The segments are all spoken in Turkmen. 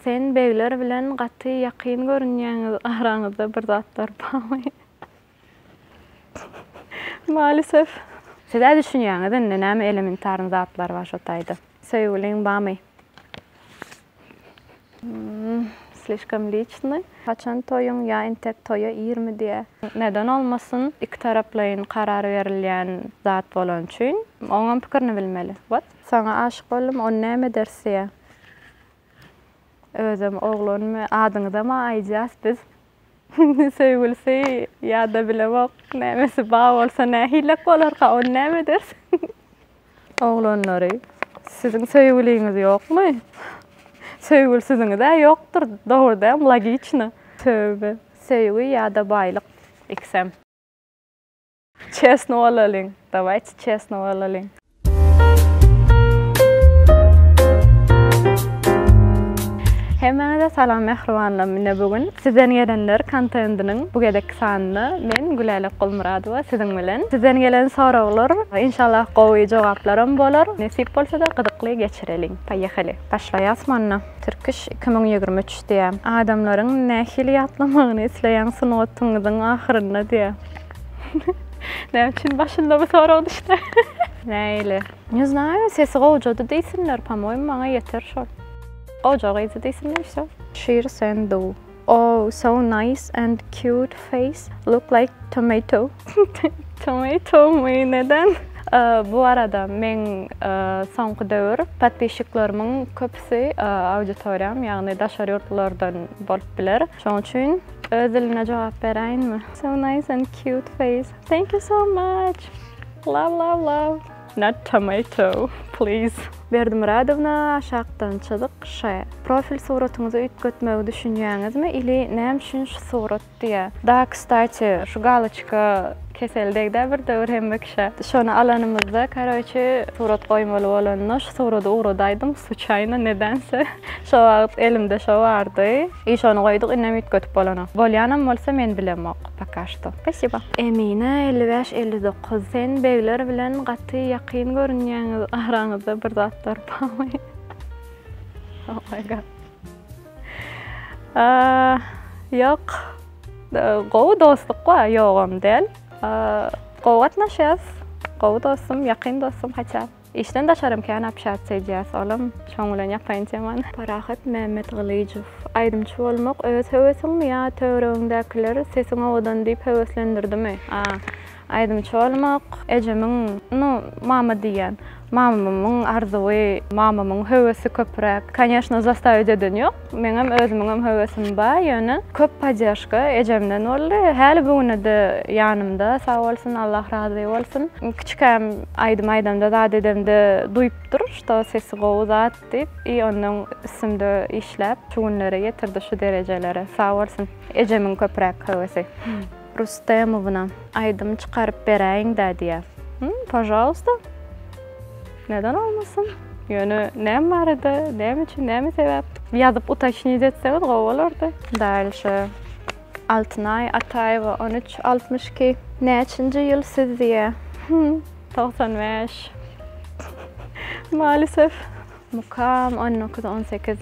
Sen begler bilen gaty ýakyn görünýäňiz araňyzda bir zatlar barmy? Malisew. Sizä düşünýäňiz indi näme elementarn zatlar bar şo taýda. Söýgüliň bamy? Mmm slişkom liçny. Haçan toýuň ýa intek toýa irmi diýä. Neden olmasyn iki taraplaýyn karar berilýän zat bolany üçin oňam pikirini bilmeli. What? Saňa aşyk boldum ony näme ederis diýä. Özem oglanmy adyňyzama aýdýas biz söýgülisi ýada bilemok nämesi ba bolsa nähilek bolarka ony näme eders oglanlary siziň söýgüliňiz ýokmy söýgülsiziňizä ýokdur dogurdam logiçno töwbe söýgi ýada baýlyk ikisem. Çesno bolalyň. Dawayt çesno bolalyň. Hemmäňize salam mähribanlar. Mine bu gün sizden gelenler kontentiniň bu gezekki sanyny men Gülälek Gulmyradowa siziň bilen. Sizden gelen soraglar inşallah gowy jogaplaram bolar. Nesip bolsa-da gyzykly geçireliň. Poýehaly. Başlaýas manda. Türkiş iki müň ýigrimi üç diýýär. Adamlaryň nähili ýatlamagyny isleýäň sungatyňyzyň ahyrynda diýýär. Näme üçin başynda bu sorag düşdi? Näle? Ne znаю, sesi gowjady diýsinler, pomoýim maňa ýeter şol. Gowja gyzy diýsinler şo. Şir sen do. Oh, so nice and cute face. Look like tomato. Tomato mu neden? Bu arada men soňky döwür podpişiklerimiň köpüsi auditoriýam, ýagny daşary ýurtlardan bolup biler. Şoň üçin Öz dilimde jogap beräýinmi. So nice and cute face thank you so much love love love. Not tomato please. Berdimyradowna aşakdan çyzyk şe. Profil suratyňyzy üýtgetmegi düşünýäňizmi ili näme üçin şu surat diýä. Da kstati şu galoçka kesel degdä bir döwür hemme. Şony alanymyzda karoçe surat goýmaly bolanda şu surady ugradaýdym suçaýna nedense şo wagt elimde şo bardy i şony goýduk indem üýtgetip bolanok bolýanam bolsa men bilemok poka şto spasiba. Emine elli bäş elli dokuz sen begler bilen gaty ýakyn görünýäňiz araňyzda bir zatlar barmy oh my god aa ýok gowy dostluk bar ýogam däl. Gowy gatnaşýas. Gowy dostum, ýakyn dostum haça. Işden daşarym kän apşatsiýa edýäs, olam şoň bilen ýapaýyn temany. Parahat Mämmetgylyjow. Aýdymçy bolmak öz höwesiňmi ýa töweregiňdäkiler sesiň owadan diýip höweslendirdimi? A. Aýdymçy bolmak ejemiň, nu, mama diýýän, Mamamyň arzuwy, mamamyň höwesi köpräk. Koneşno, zastawiýt eden ýok. Meňem özümiňem höwesim bar, ýöne köp podderžka ejemden boldy. Häli bu güne-de ýanymda, sag bolsun, Allah razy bolsun. Kiçikäm aýdym aýdamda, zat edemde duýupdyr, şto sesi gowy zat diýip i onnoň üstümde işläp, şu günlere ýetirdi, şu derejelere. Sag bolsun. Ejemiň köpräk höwesi. Rustemowna, aýdym çykaryp beräýiň-dä diýýä. Hum, pažalysta. Neden bolmasyn? Ýöne näme barada, näme üçin, näme sebäp? Ýazyp utaçnit etseňiz gowy bolardy. Dalşe. Altynaý Ataýewa, on üç, altmyş iki. Näçinji ýyl siz diýýä. Hum, togsan bäş. Malisef. Mukam on dokuz on sekiz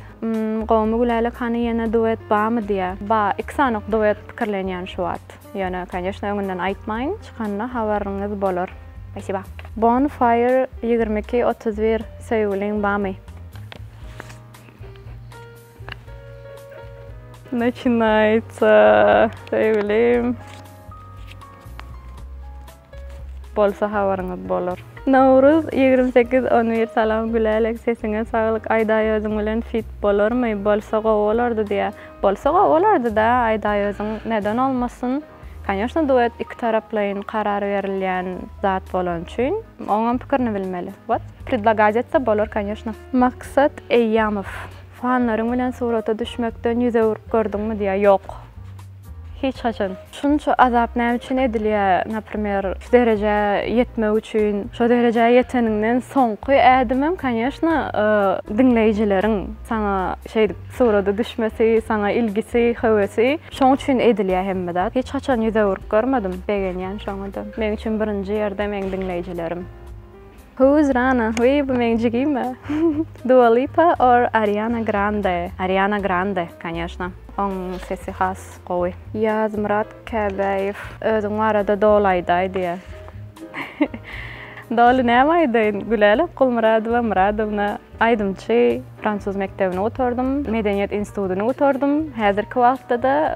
Gomy Gülälek hany ýene duet bamy diýä. Ba iki sanok duet pikirlenýän şu wagt. Ýöne koneşna öňünden aýtmaýyn çykanda habaryňyz bolar. Spasiba. Bon fire ýigrimi iki otuz bir Söýgüliň bamy. Naçinayca söýgülim. bolsa habaryňyz bolar. Nowruz ýigrimi sekiz on bir Salam Gülälek sesiňe saglyk Aýdaýöziň bilen fit bolarmy bolsa gowy bolardy diýä bolsa gowy bolardyda Aýdaýöziň neden olmasyn Konýoşna duet iki taraplaýyn karar berilýän zat bolany üçin oňam pikirini bilmeli wot predlagaz etse bolar konýoşna. Maksat Eýýamow. Fanlaryň bilen surata düşmekden ýüz öwrüp gördüňmi diýýär. Ýok. Hiç haçan. Şunça azap näme üçin edilýär? Naprimer, şu derejä ýetmek üçin. Şo derejä ýeteniňden soňky ädimem, kanyýeşna, diňleýjileriň saňa şeýdip surata düşmesi, saňa ilgisi, höwesi. Şoň üçin edilýär hemme zat. Hiç haçan ýüz öwürip görmedim. Begenýän şoňa-da. Meň üçin birinji ýerde meň diňleýjilerim. Who's Rana? Wiý bu meň jigim a. Dua Lipa or Ariana Grande? Ariana Grande koneşna. Oň sesi has gowy. Ýazmyrat Käbäýew özüň barada doly aýdaý diýä. Doly näme aýdaýyn? Gülälek Gulmyradowa Myradowna, aýdymçy, fransuz mekdebini gutardym, medeniýet institutyny gutardym, häzirki wagtda-da,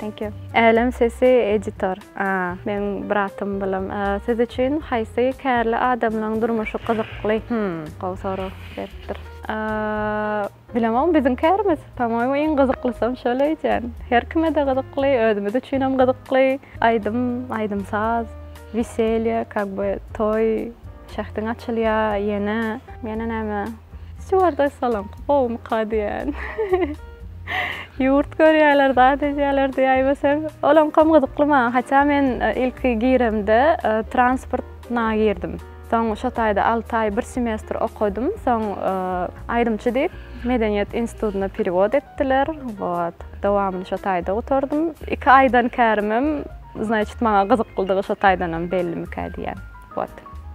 Thank you. Älem sesi editor. Meň bratym bilim. Siz üçin haýsy kärli adamlaň durmuşy gyzykly? Hum, gowy sorag beripdir. Bilemok biziň kärimiz. Pamoýmu iň gyzyklysam şol öýdýän. Her kime-de gyzykly, özümiz üçinem gyzykly. Aýdym, aýdym-saz, weselýe, kak by toý. Şähdiň açylýa ýene. Ýene näme? Stýuardes salam. Gowumyka diýen. Ýurt görýäler, zat edýäler diýäýmeseň. Olaňkam gyzykly maňa. Haçan men ilki giremde transport na girdim. Soň şo taýda alty aý bir semestr okadym. Soň aýdymçy diýip Medeniýet institutyna perewod etdiler. Wot. Dowamyny şo taýda gutardym. Iki aýdan kärimem, znaýçit maňa gyzyklydygy şo taýdanam bellimikä diýýän. What?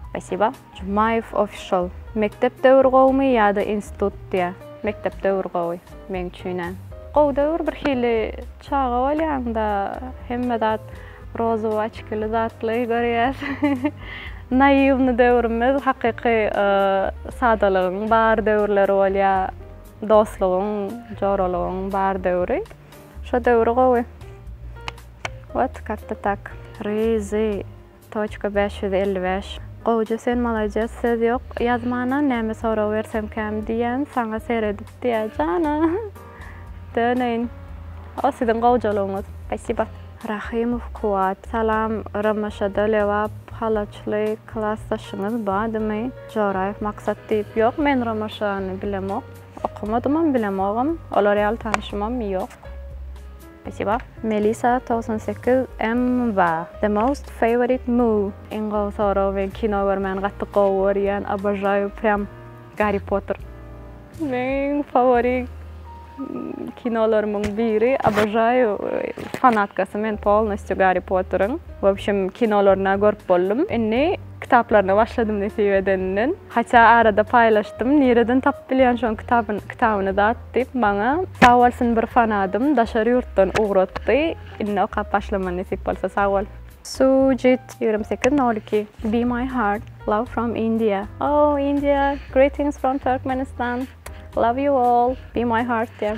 Spasiba. Jumaýew official. Mekdep döwür gowumy ýada institut diýä. Mekdep döwür gowy. Meň üçinä. Gowy döwür bir hili çaga bolýaňda hemme zat rozowy oçkili zatly görýäs. Naiwny döwrümiz hakyky sadalygyň bar döwürleri bolýa dostlugyň joralygyň bar döwri. Şo döwri gowy. What karta tak. Ryzy. Toçka bäş ýüz elli bäş Gowja sen malades söz ýok ýazmana näme sorag bersemkäm diýýän saňa seredip diýä jana döneýin o siziň gowjalygyňyz spasiba. Rahymow Kuwat salam Romaşada Lebap halaçly klasdaşyňyz badymy Joraýew Maksat diýip ýok men Romaşany bilemok okamadymam bilemogam olar ýaly tanyşymam ýok. Spasiba. Melisa togsan sekiz MBa The most favorite movie iň gowy sorag men kino görmäni gaty gowy görýän obožaýu prýam Garri Potter meň fawori kinolarymyň biri obožaýu fanatkasy men polnostýu Garri Potteriň wobşem kinolaryna görüp boldum indi kitaplaryna başladym nesip edeninden. Haça arada paýlaşdym. Nireden tapyp bilýän şoň kitabyny kitabyny zat diýip maňa. Sag bolsun bir fanadym daşary ýurtdan ugratdy indi okap başlaman nesip bolsa sag bol. Sujit ýigrimi sekiz nol iki Be my heart love from India Oh India greetings from Turkmenistan love you all be my heart diýen.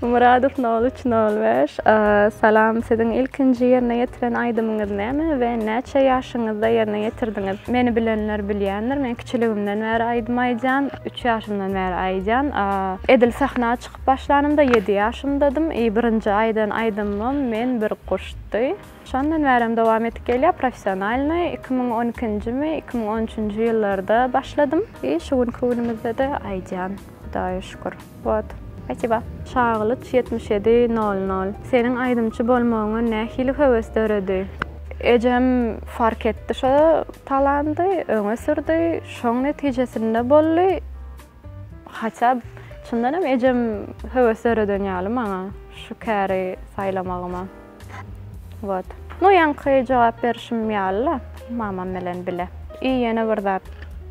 Muradow nol üç nol bäş Salam siziň ilkinji ýerine ýetiren aýdymyňyz näme we näçe ýaşyňyzda ýerine ýetirdiňiz? Meni bilenler bilýändir men kiçiligimden bäri aýdym aýdýan üç ýaşymdan bäri aýdýan edil sahna çykyp başlanymda ýedi ýaşymdadym i birinji aýdan aýdymym men bir guşdy. Şondan bärem dowam edip gelýär. Professionalny iki müň on ikinjimi, iki müň on üçünji ýyllarda başladym. I şu günki günümizde-de aýdýan, Hudaýa şükür. Wot. Spasiba. Çaglyç ýetmiş ýedi nol nol. Seniň aýdymçy bolmagyňa nähili höwes döredi? Ejem fark etdi şo talandy, öňe sürdi. Şoň netijesinde boldy. Haçab, çyndan hem ejem höwes döreden ýaly maňa şu käri saýlamagyma. Wot. Nu ýaňky jogap berişim ýaly-la, mamam bilen bile. I ýene bir zat,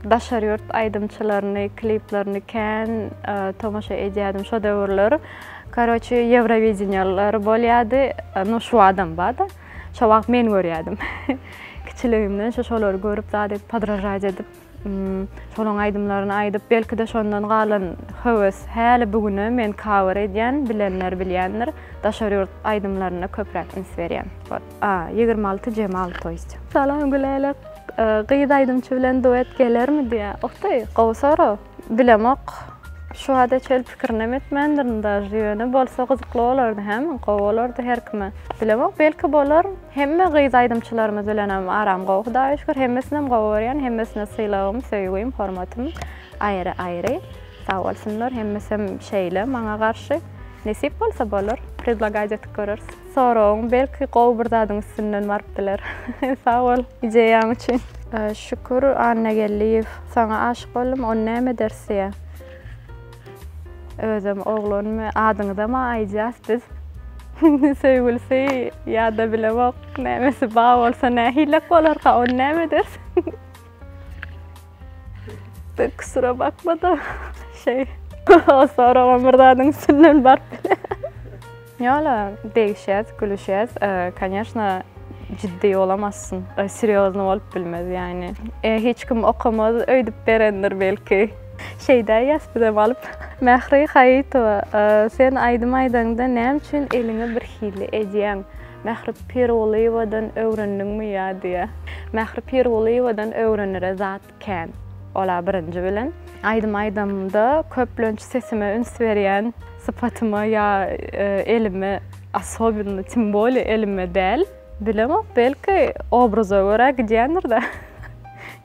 daşary ýurt aýdymçylaryny, kliplerini kän tomaşa edýädim şo döwürler. Karoçi, Ýewrowideniýalar bolýardy, nu şu adam bar-da, şo wagt men görýärdim. Kiçiligimden şu şolary görüp zat edip, podražaýt edip. Şolaň aýdymlaryny aýdyp, belki-de şondan galan höwes häli bu güne men kawer edýän, bilenler bilýändir, daşary ýurt aýdymlaryna köpräk üns berýän. A, ýigrimi alty Jemal to ýst. Salam Gülälek. Gyz aýdymçy bilen duet gelermi diýä. Uh ty, gowy sorag. Bilemok. Şu wada çel pikirinem etmändirin daž, ýöne bolsa gyzykly bolardy hä, gowy bolardy her kime. Bilemok, belki bolar. Hemme gyz aýdymçylarymyz bilenem aram gowy hudaýa şükür hemmesinem gowy görýän hemmesine sylagym söýgim hormatym aýry aýry sag bolsunlar hemmesem şeýle maňa garşy nesip bolsa bolar predlagać etip göreris soragyn belki gowy bir zadyň üstünden baryp biler sag bol ideýaň üçin. Şükür Annageldiýew saňa aşyk boldum ony näme ederis diýýä. Özem oglanmy adyňyzama aýdýas biz. Söýgülisi ýa-da bilemok nämesi bar bolsa nähilek bolarka ony näme ederis. Kusura bakma-da şeý. Soragam bir zadyň üstünden baryp biler. Ýa-la degişýäs, gülüşýäs, koneşna, jiddi olamazsyň, serýoznyý bolup bilmez, ýagny, e, hiç kim okamaz öýdüp berendir belki. Şeýdä ýaspydam alyp. Mähri Haýytowa, sen aýdym aýdaňda näme üçin eliňi birhili edýäň? Mähri Pirgulyýewadan öwrendiňmi ýa diýýä. Mähri Pirgulyýewadan öwrenere zat. Kän. Ol-a birinji bilen. Aýdym aýdamda köplenç sesime üns berýän sypatyma ýa elime, asobinno, tim bolýa elime däl, bilemok, belki, obraza görä gidýändir-de.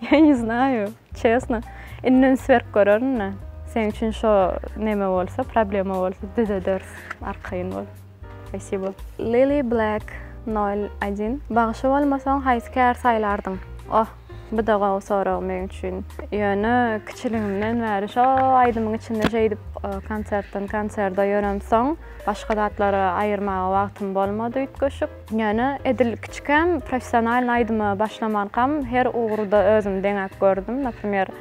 Ýa ne znaýu, çesno. Indi üns berip görerin-le. Seniň üçin şo neme bolsa, problema bolsa, düzederis, arkaýyn bol. Spasibo. Lily Black nol один Bagşy bolmasaň haýsy kär saýlardyň? Oh, buda gowy sorag men üçin. Ýöne kiçiligimden bäri şo aýdymyň içinde şeýdip konsertden konserde ýöremsoň, başga zatlary aýyrmaga wagtym bolmady üýtgeşik. Ýöne edil kiçikäm professionalny aýdyma başlamankam her ugurda özümi deňäp gördüm. Naprimer.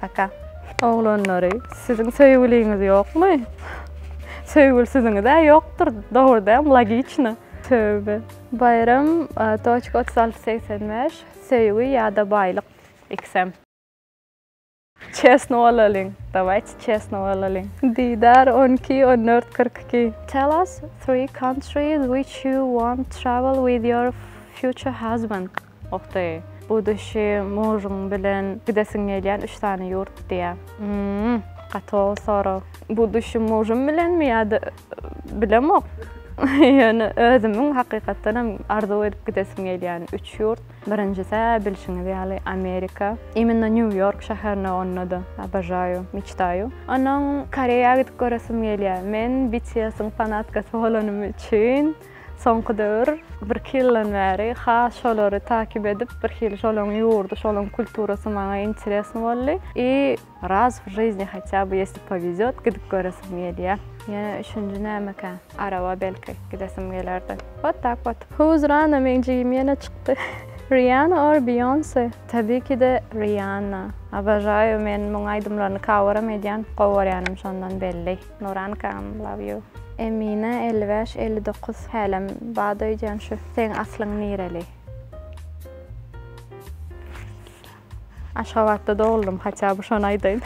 Paka. Oglanlary, siziň söýgüliňiz ýokmy? Söýgülsiziňiz-ä ýokdur, dogry däm, logiçno. Töwbe. Baýram toçka otuz alty segsen bäş, Söýgi ýa-da baýlyk, iksem. Çesno bolalyň, dawaýçy çesno bolalyň. Didar on iki, on dört, kyrk iki. Tell us three countries which you want travel with your future husband. Ohday. Bu düşi mujyň bilen gidesiň gelýän üç sany ýurt diýä. Hmmm. Gaty gowy sorag. Bu düşi mujym bilenmi ýa-da bilemok. Ýöne özümiň hakykatdan hem arzuw edip gidesim gelýän üç ýurt. Birinjisi-ä bilşiňiz ýaly Amerika. Immino New York şäherine onda-da obožaýu, meçtaju. Onuň Koreýa gidip göresim gelýä. Men BTS-iň fanatkasy bolanym üçin. Soňky döwür, birki ýyldan bäri has şolary takyp edip, birhili şolaryň ýurdy, şolaryň kulturasy maňa interesno boldy. I raz w žyzni hatýa by ýesli poweziot gidip göresim gelýä. Ýene üçünji nämekä? Araba belki gidesim gelerdi. Wot tak wot. Who's Rana meň jigim ýene çykdy. Riana or Beyonce? Tabikide Riana. Obožaýu men muň aýdymlaryny kaweram edýän, gowy görýänim şondan belli. Nurankam love you. Emine elli bäş elli dokuz hälem bad öýdýän şu seň aslyň nireli. Aşgabatda doguldym haça bu şony aýdaýyn.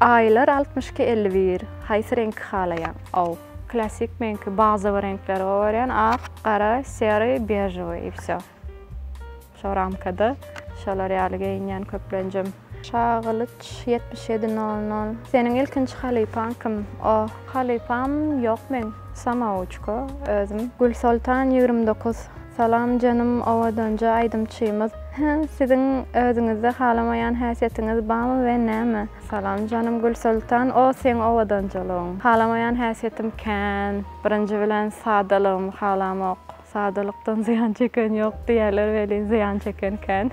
Aýlar altmyş iki elli bir haýsy reňki halaýaň ow. Klasik meňki bazowy reňkleri gowy görýän ak gara sery bežowy i vsё. Şo ramkada şolar ýaly geýinýän köplenjem. Şagylyç ýetmiş ýedi nol nol. Seniň ilkinji halypaň kim? Oh. Halypam ýok meň. Samawuçko özüm. Gülsoltan ýigrimi dokuz. Salam janym owadanja aýdymçymyz. Hä siziň özüňizde halamaýan häsiýetiňiz bamy we näme? Salam janym Gülsoltan o seň owadanjalygyň. Halamaýan häsiýetim kän. Birinji bilen sadalygymy halamok. Sadalykdan zyýan çeken ýok diýýärler welin zyýan çeken kän.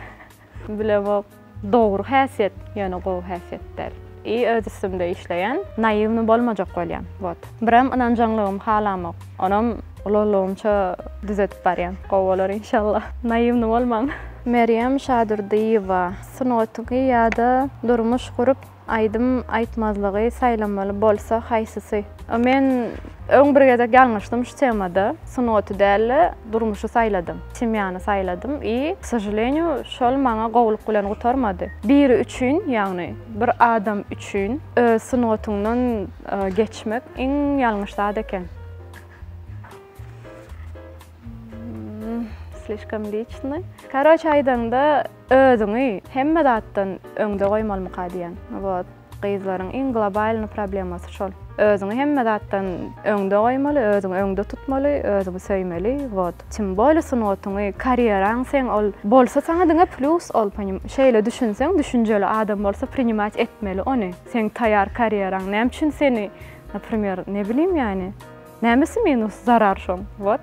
Bilemok. Dogry häsiýet, ýöne gowy häsiýet däl. I öz üstümde işleýän, naýiwny bolmajak bolýan. Wot. Birem ynanjaňlygym halamok. Onam ulalygymça düzedip barýan. Gowy bolar inşallah. Naýiwny bolmaň. Merýem Şadurdyýewa, Sungatyňy ýa-da durmuş gurup Aýdym aýtmazlygy saýlamaly bolsa haýsysy? Men öň bir gezek ýalňyşdym şu temada. Sungaty däl-de, durmuşy saýladym. Semýany saýladym i, k sožalenýu, şol maňa gowulyk bilen gutarmady. Biri üçin, ýagny bir adam üçin öz sungatyňdan geçmek iň ýalňyş zat eken. Slişkom liçnoý. Karoç aýdaňda, Özüňi hemme zatdan öňde goýmalymyka diýen. Wot gyzlaryň iň globalny problemasy şol. Özüňi hemme zatdan öňde goýmaly, özüňi öňde tutmaly, özüňi söýmeli, wot. Tim bolýa sungatyňy, karýeraň seň ol bolsa saňa diňe plýus ol ponim. Şeýle düşünseň düşünjeli adam bolsa prinimat etmeli ony. Seň taýýar karýeraň näme üçin seni naprimer ne bilim ýany. Nämesi minus, zarar şoň, wot.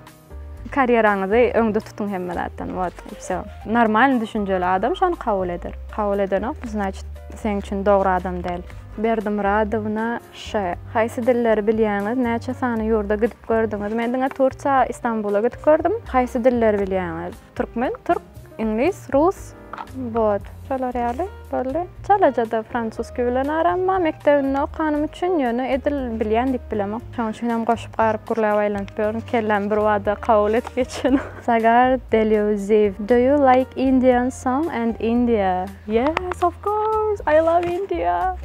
Karýeraňyzy öňde tutuň hemme zatdan wot i vsё. Normalny düşünjeli adam şony kabul eder. Kabul edenok bu znaçit seň üçin dogry adam däl. Berdimyradowna ş. Haýsy dilleri bilýäňiz? Näçe sany ýurda gidip gördüňiz? Men diňe Tursiýa, Istanbula gidip gördüm. Haýsy dilleri bilýäňiz? Türkmen, türk, iňlis, rus, Bot. Şolar ýaly boldy. Çalaja-da fransuski bilen aram bar. Mekdebinde okanym üçin, ýöne edil bilýän diýip bilemok. Şonuň üçin hem goşup garyp gürläp aýlanyp ýörün. Kellämi bir bada kabul edip geçenim. Sagar Deleuziv. Do you like Indian song and India? Yes of course! I love India!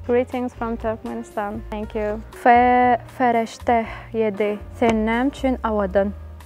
Greetings from Turkmenistan. Thank you. Fe Fereşteh ýedi. Sen näme üçin awadan?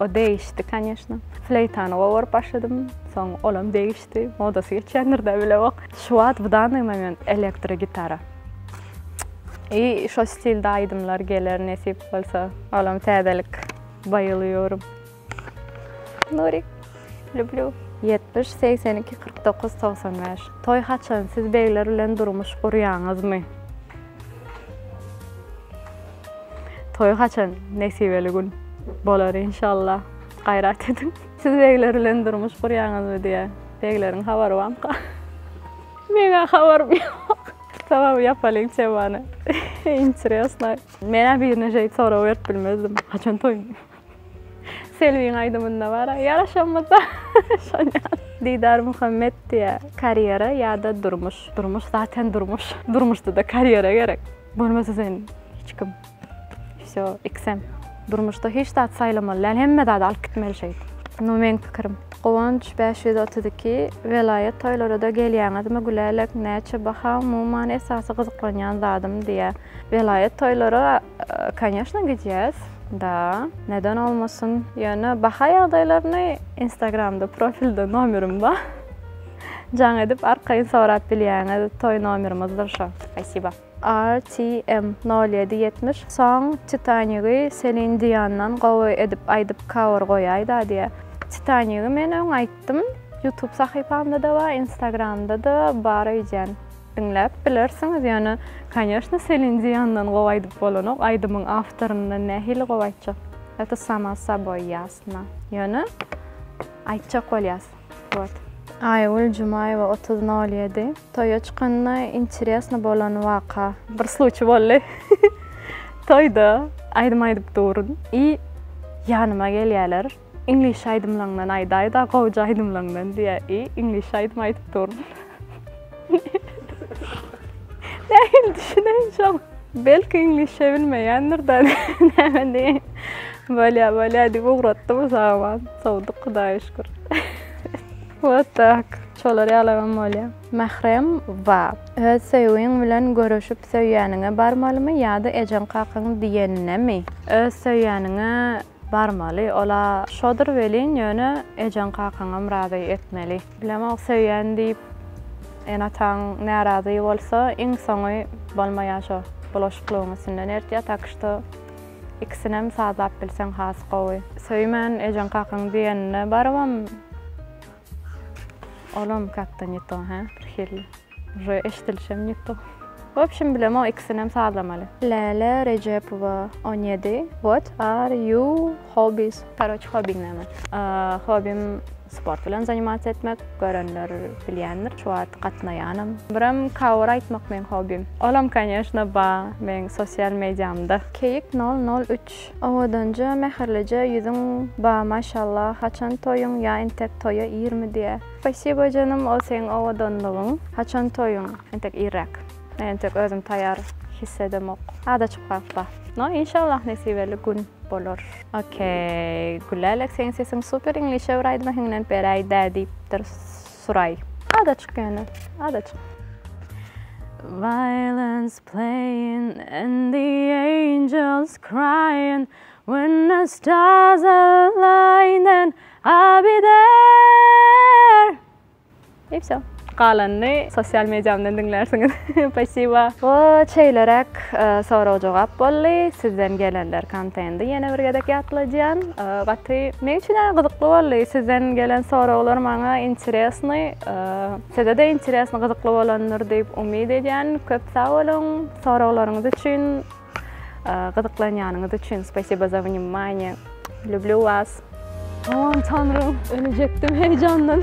O degişdi, kanýeşna. Fleýtany gowaryp başladym. Soň olam degişdi. Modasy geçýändir-dä, bilewok. Şu wagt bu danny moment elektrogitara. I şo stilde aýdymlar geler nesip bolsa. Olam täzelik. Baýylýorym. Nuri, lýublýu. Ýetmiş, segsen iki, kyrk dokuz, togsan bäş. Toý haçan, siz begler bilen durmuş gurýaňyzmy? Toý haçan nesibeli gün bolar inşallah. Gaýrat ediň. Siz begler bilen durmuş gurýaňyzmy diýä. Begleriň habary bamka? Meň-ä habarym ýok. Tamam ýapalyň temany. Interesno. Men-ä birine şeýt sorag berip bilmezdim. Haçan toýuň? Selbiň aýdymynda bara ýaraşamyzda şonýa. Didar Muhammet diýä karýera ýa-da durmuş. Durmuş zaten durmuş. Durmuşda-da karýera gerek. Bolmasa sen hiç kim. Wsýo, iksem. Durmuşda hiç zat saýlamaly däl, hemme zady alyp gitmeli şeýdip. Nu meň pikirim. Guwanç bäş ýüz otuz iki Welaýat toýlarada gelýäňizmi gülälek näçe baha umuman esasy gyzyklanýan zadym diýä welaýat toýlara Конечно gidýäs da neden olmasyn ýöne baha ýagdaýlaryny instagramda profilde nomerim bar jaň edip arkaýyn sorap bilýäňiz toý nomerymyzdyr şo spasiba. RTM nol ýedi ýetmiş soň Titanigy Selin Diandan gowy edip aýdyp cover goýaýda diýýä Titanigy men öň aýtdym youtube sahypamda da bar instagramda da bar öýdýän. Diňläp bilersiňiz ýöne koneşno Selin Diýandan gowy aýdyp bolanok aýdymyň awtoryndan nähili gowy aýtjak ýa-da sama saboý ýasna ýöne aýtjak bolýas wot. Aýgül Jumaýewa otuz nol ýedi toýa çykanda interesno bolan waka. Bir sluçi bolly toýda aýdym aýdyp duryn i ýanyma gelýäler. Iňlis aýdymlaňdan aýdaýda gowja aýdymlaňdan diýä i iňlis aýdym aýdyp dur. Nähili düşüneýin şoňa. Belki iňlisçe bilmeýändir da näme diýeýin. Bolýa bolýa diýip ugratdy bu saman. Sowduk hudaýa şükür. Wot tak. Şolar ýalabam bolýa. Mährem wa. Öz söýgiň bilen görüşip söýýäniňe barmalymy ýada ejeň kakaň diýenine mi. Öz söýýäniňe Barmaly, ol-a şodur welin, ýöne ejeň-kakaňam razy etmeli. Bilemok, söýýän diýip, ene-ataň närazy bolsa, iň soňy bolmaýar şo bulaşyklygyň üstünden ertýär, tak şto, ikisinem sazlap bilseň has gowy. Söýmän, ejeň-kakaň diýenine barybam, Olam katta ne to hä birhili. Uje eşdilişem ne to. Wobşem bilemok ikisinem sazlamaly. Läle Rejepowa on ýedi what are you hobbies? Karoç hobbiň näme? Hobbym sport bilen zanimatsiýa etmek, görenler bilýändir şu wagt gatnaýanam. Birem cover aýtmak meň hobbym. Olam konýeşna bar meň sosial mediamda. Keýik nol nol üç Aç, owadanja, mähirlije ýüzüň ba maşallah, haçan toýuň ýa entek toýa irmi diýä. Spasibo janym ol seň owadanlygyň. Haçan toýuň entek irräk. Men entek özüm taýar hiss edemok. Ada çykyp galypba. No inşallah nesibeli gün bolar. Ok Gülälek seň sesiň super iňlişe bir aýdyma hiňlenip beräý dä diýipdir Suray. Ada çyk ýöne ada çyk. Violence. Playing and the angels crying When the stars align then I'll be there I wsyo. Galanyny sosial mediamdan diňlärsiňiz. Spasiba. Bu şeýleräk sorag-jogap boldy. Sizden gelenler kontendi ýene bir gezek ýatladýan. Gaty meň üçinem gyzykly boldy. Sizden gelen soraglar maňa interesnyý. Sizede interesni gyzykly bolandyr diýip umyt edýän. Köp sag boluň soraglaryňyz üçin, gyzyklanýanyňyz üçin. Spasibo za vnimanie. Lüblü was. Aman tanrym, ölejekdim heýjandan.